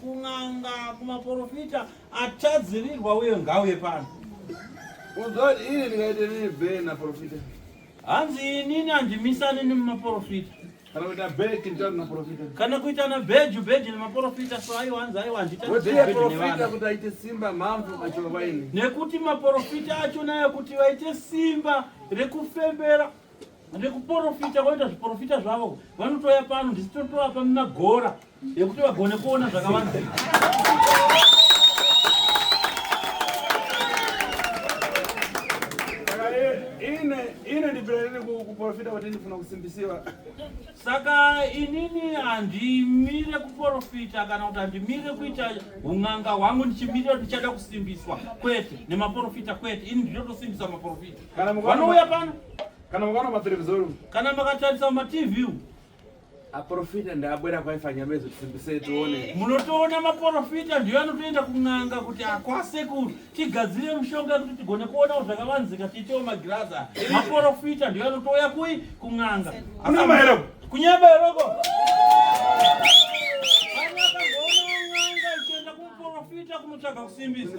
kun'anga kumaporofita achadzirirwa uye ngauye pano uzoti ini ndikaite nini be naporofita hanzi inini handimisani nemaporofita kana kuita beki nditatu naporofita kana kuita na beju beju nemaporofita so aiwa hanzi aiwa handita woziye beju profita nevana kuti aite simba mhamvu achova vaini nekuti maporofita acho nayo kuti vaite simba rekufembera rekuporofita voita zviporofita zvavo vanotouya pano ndisitotovapa magora yekuti vagone kuona zvakawanda kuporofita kuti ndifuna kusimbisiwa saka inini handimire kuporofita kana kuti handimire kuita un'anga hwangu ndichimirira ndichada kusimbiswa kwete nemaporofita kwete ini ndinotosimbisa maporofita vanouya pano kana mukaona materevizori kana makatarisa matv Aprofita ndaabwera kwaifanya mezo tisimbise tione. Eh. Munotoona maprofita ndiyo anotoenda kun'anga kuti akwase kuti tigadzire mushonga kuti tigone kuona zvakavanzika tiitewo magirazi. Maprofita ndiyo anotouya kui kun'anga. Kuna maero. Kunyeba eroko. Kunotsvaga kusimbisa.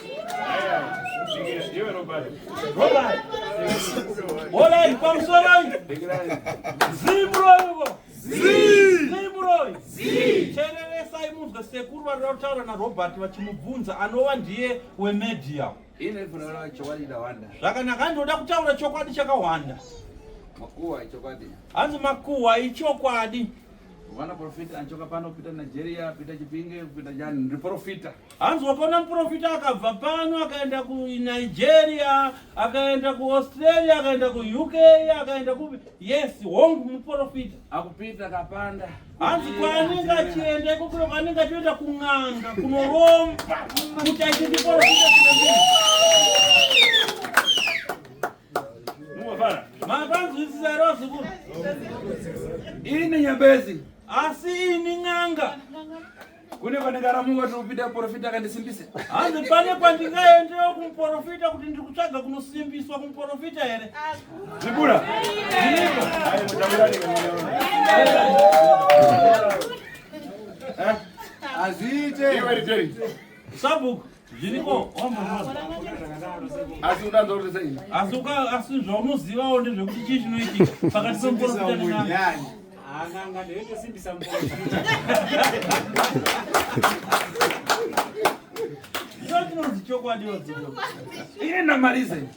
sekuru vari kutaura narobert vachimubvunza anova ndiye wemedia zvakanaka ndinoda kutaura chokwadi chakawanda hanzi makuhwa ichokwadi vanaprofita anchoka pano pita nigeria pita chipinge pita jani ndiprofita Hanzi wakaona muprofita akabva pano akaenda kuNigeria, akaenda kuAustralia, akaenda kuUK, akaenda kupi? Yes, hongu muprofita. Akupita kapanda. Hanzi kwaanenge achienda iko kuno kwaanenge achienda kun'anga kunoromba kuti aite muprofita kuno. Mumafana. Makanzwisisa here wazukuru? Ini nyambezi. Asi ini n'anga. kune kwandikaramuka tiri kupinda muporofita akandisimbisa hanzi pane kwandingaendewo kumuporofita kuti ndiri kutsvaga kunosimbiswa kumuporofita here zibura hazviite sabhuku zviriko asi udanza kuti sei asi uka asi zvaunozivawo ndezvekuti chii chinoitika pakati pemuporofita ndochinonzi chokwadi yodzivo ine namalize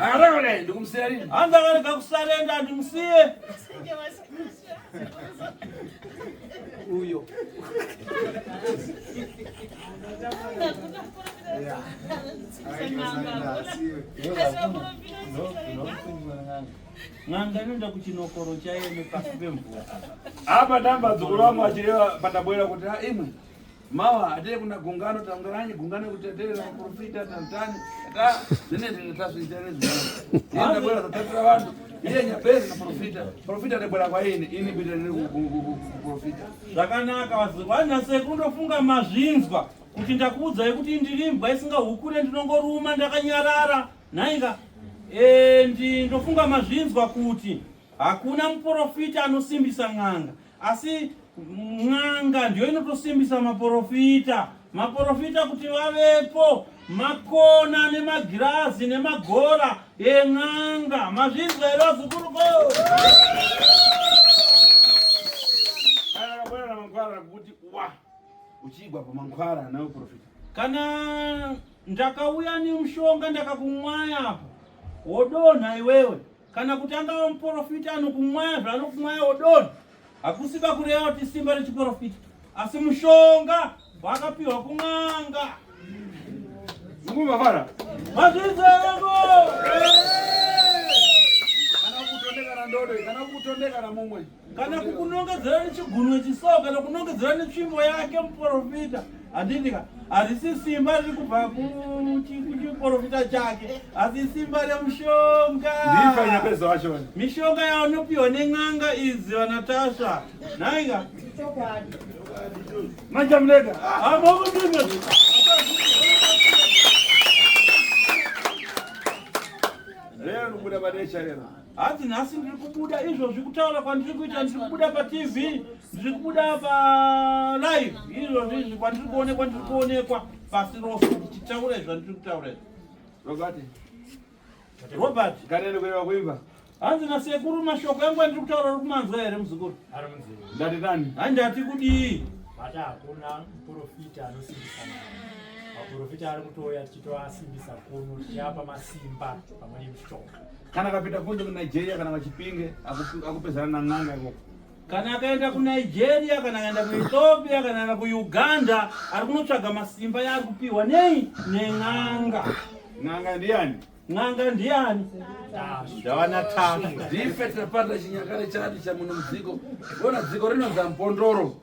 Akatakale ndikumsiya lini? Hanza kale kakusalenda ndimsiye. Uyo. Ng'anga inoenda kuchinokoro chaiyo nepasi pemvura. Apa ndamba dzukuru wangu achireva pandabwera kuti imwe Mawa hate kuna gungano tangaranyi gungano kuti taterera profita tantani ta zene zene tasvita nezvi. Yenda bora tatatira vanhu. Iye nyapezi na profita. Profita de bora kwa ini ini bidira ne profita. Zvakanaka vazi wana sekundo funga mazvinzwa kuti ndakuudzai kuti ndiri mbwa isinga hukure ndinongoruma ndakanyarara. Nainga eh ndi ndofunga mazvinzwa kuti hakuna muprofita anosimbisa n'anga Asi n'anga ndiyo inotosimbisa maporofita, maporofita kuti vavepo, makona nemagirazi nemagora en'anga. Mazvinzwa here vazukuru ko? kuti wa uchiigwa pamankwara nawe profita kana ndakauya nemushonga ndakakumwaya apo wodonha iwewe kana kuti angava muporofita anokumwaya zvaanokumwaya odonha hakusi pakureva kuti simba rechiporofita asi mushonga wakapiwa kun'anga zungumavara mazvizereko kana kutondekana ndodo kana kutondekana mumwe kana kukunongedzera nechigunwe chisawo kana kunongedzera netsvimbo yake muprofita handitika harisi simba riri kubva kuchiprofita chake asi simba remushonga mishonga yaanopiwa nen'anga izi vanatasva nhaika manjamuleka rero nokuda pane chareraa Hanzi nhasi ndiri kubuda izvozvi kutaura kwandiri kuita ndiri kubuda patv ndiri kubuda palive izvozvi izvi kwandiri kuonekwa ndiri kuonekwa pasi rose ndichitaura izvi zvandiri kutaura izvi robert robert ganene kuenda kuimba hanzi nasekuru mashoko yangu andiri kutaura uri kumanzwa here muzukuru ndati nani handati kudii bata hakuna muprofita anosimbisa maprofita ari kutouya tichitoasimbisa kuno tichiapa masimba pamwe nemushoko kana akapinda kunze kunigeria kana vachipinge akupezana nan'anga ikoko kana akaenda kunigeria kana akaenda kuethiopia kana akaenda kuuganda ari kunotsvaga masimba yaari kupiwa nei nen'anga n'anga ndiyani n'anga ndiyani ndawana tashu ndife tapanda chinyakare chati chamuno mudziko ona dziko rinonzi ampondoro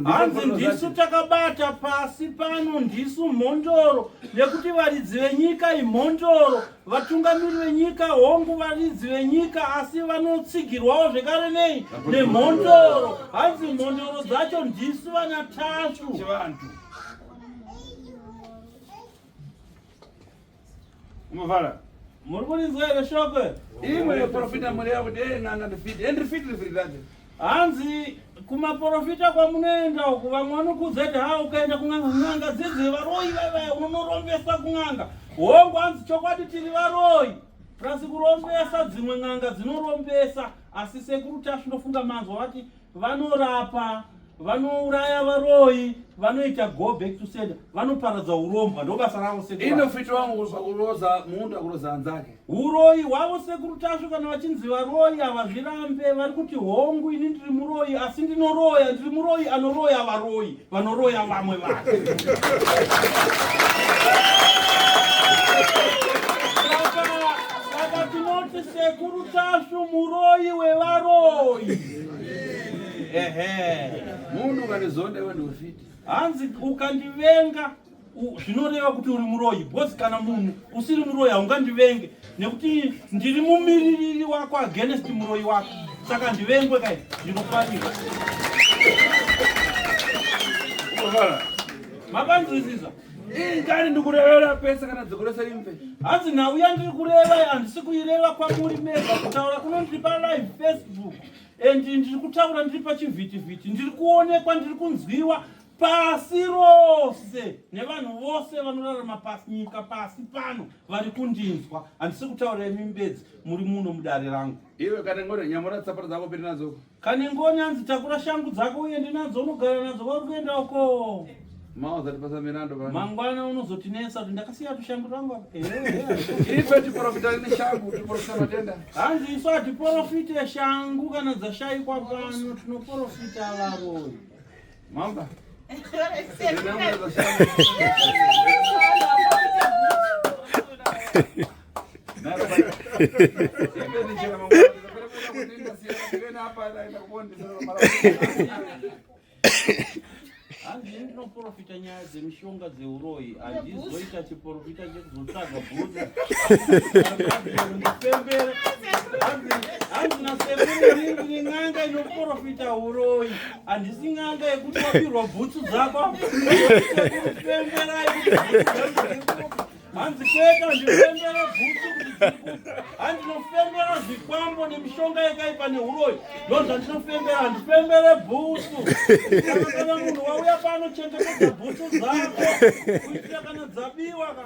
hanzi ndisu takabata pasi pano ndisu mhondoro nekuti varidzi venyika imhondoro vatungamiri venyika hongu varidzi venyika asi vanotsigirwawo zvekare nei nemhondoro hanzi mhondoro dzacho ndisu vana tasvu Umavara. Muri kurinzwa here shoko? Imwe yeprofita muri yavo dei n'anga ndifiti. Endi rifiti rifiti racho. Hanzi kumaprofita kwamunoenda uku vamwe vanokuzeti ha ukaenda kun'anga n'anga dzidzi varoyi vaivaya unonorombesa kun'anga. Hongu hanzi chokwadi tiri varoyi. Plus kurombesa dzimwe n'anga dzinorombesa asi sekuru tasvinofunga manzwa vati vanorapa vanouraya varoyi vanoita go back to sender vanoparadza urombwa ndo basa ravo seinofiita wangu kuroza munda kuroza hanzake uroyi hwavo sekuru tasvu kana vachinzi varoyi havazvirambe vari kuti hongu ini ndiri muroyi asi ndinoroya ndiri muroyi anoroya varoyi vanoroya vamwe vanhu saka tinoti sekuru tasvu muroyi wevaroyi ehe munhu ukanizonda iwe ndiufiti hanzi ukandivenga zvinoreva kuti uri muroyi because kana munhu usiri muroyi haungandivenge nekuti ndiri mumiririri wako against muroyi wako saka ndivengwe kai ndinofanira makanzwisisa ingani ndikurevera pese kana dzokoresa imve hanzi nhau yandiri kureva handisi kuireva kwamuri mega kutaura kuno ndiri palive facebook and ndiri kutaura ndiri pachivhitivhiti ndiri kuonekwa ndiri kunzwiwa pasi rose nevanhu vose vanorarama pasi nyika pasi pano vari kundinzwa handisi kutaura imi mbedzi muri muno mudare rangu iwe kana ngore nyamora tsapara dzako piri nadzo Kani ngoni hanzi takura shangu dzako uende nadzo unogara nadzo vari kuenda uko. Mama uzatipasa mirando bana. Mangwana unozotinetsa kuti ndakasiya tushangu twangu apa. Eh. Ife tiporofita neshangu, tiporofita matenda. Hanzi isu hatiporofite shangu kana dzashaikwa pano, tinoporofita varoyi. Mamba. hanzi ndinoprofita nyaya dzemishonga dzeuroyi handizoita chiprofita chekuzotsvaga bhuzi hanzi nasembere ringi rin'anga inoprofita uroyi Handisi n'anga yekuti wapirwa bhutsu dzako pembera hanzi kwete handifembere bhutsu kuti handinofembera zvikwambo nemishonga yakaipa neuroyi ndo zvandinofembera handifembere bhutsu kana munhu wauya pano chengetedza bhutsu dzako kuitira kana dzabiwa ka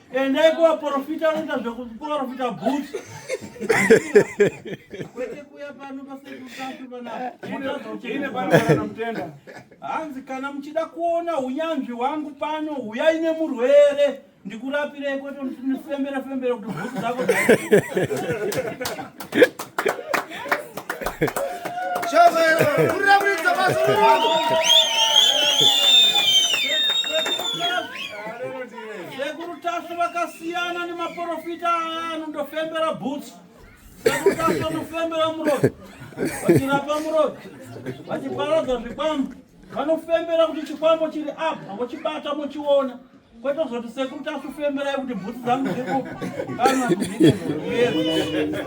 Endai kuva profita anoita zvekuprofita bhut. Kwete kuya pano pasekutatu panaamutenda. Hanzi kana muchida kuona unyanzvi wangu pano huyai nemurwere ndikurapirei kwete nifembera fembera kuti bhut dzako. Shazayiro, Sekuru Tasvu vakasiyana nemaporofita aya anondofembera bhutsu. Sekuru Tasvu anofembera muroki, vachirapa muroki, vachiparadza zvikwambo. Vanofembera kuti chikwambo chiri apa, vochibata mochiona. Kwete kuzoti sekuru Tasvu femberai kuti bhutsu dzangu dziri kupa. Kana kuzviita zvinoyera.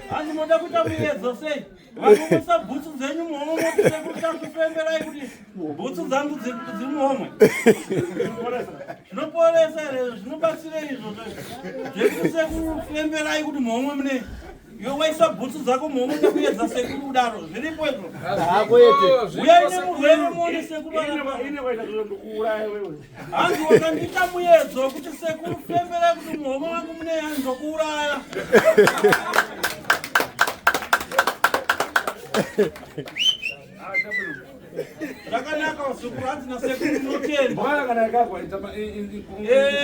hanzi moda kuita muyedzo sei vakuisa bhutsu dzenyu muhomwe motikutakufemberai kuti bhutsu dzangu dziri muhomwe zvinoporesa here zvinobatsirei izvozvo zvekusekufemberai kuti muhomwe mune Iwe waisa bhutsu dzako muhomwe nekuyedza sekuru kudaro zviripo izvo Hako yete. uya ine murwere muone sekuru arapa. Ine waita zviro ndokuuraya wewe. hanzi wakandiita muyedzo wekuti sekuru fembera kuti muhomwe wangu mune yani ndokuuraya zvakanaka wasekuru hanzi nasekuru munotenda Bwana kana yakagwa itama i- i- i- Eh,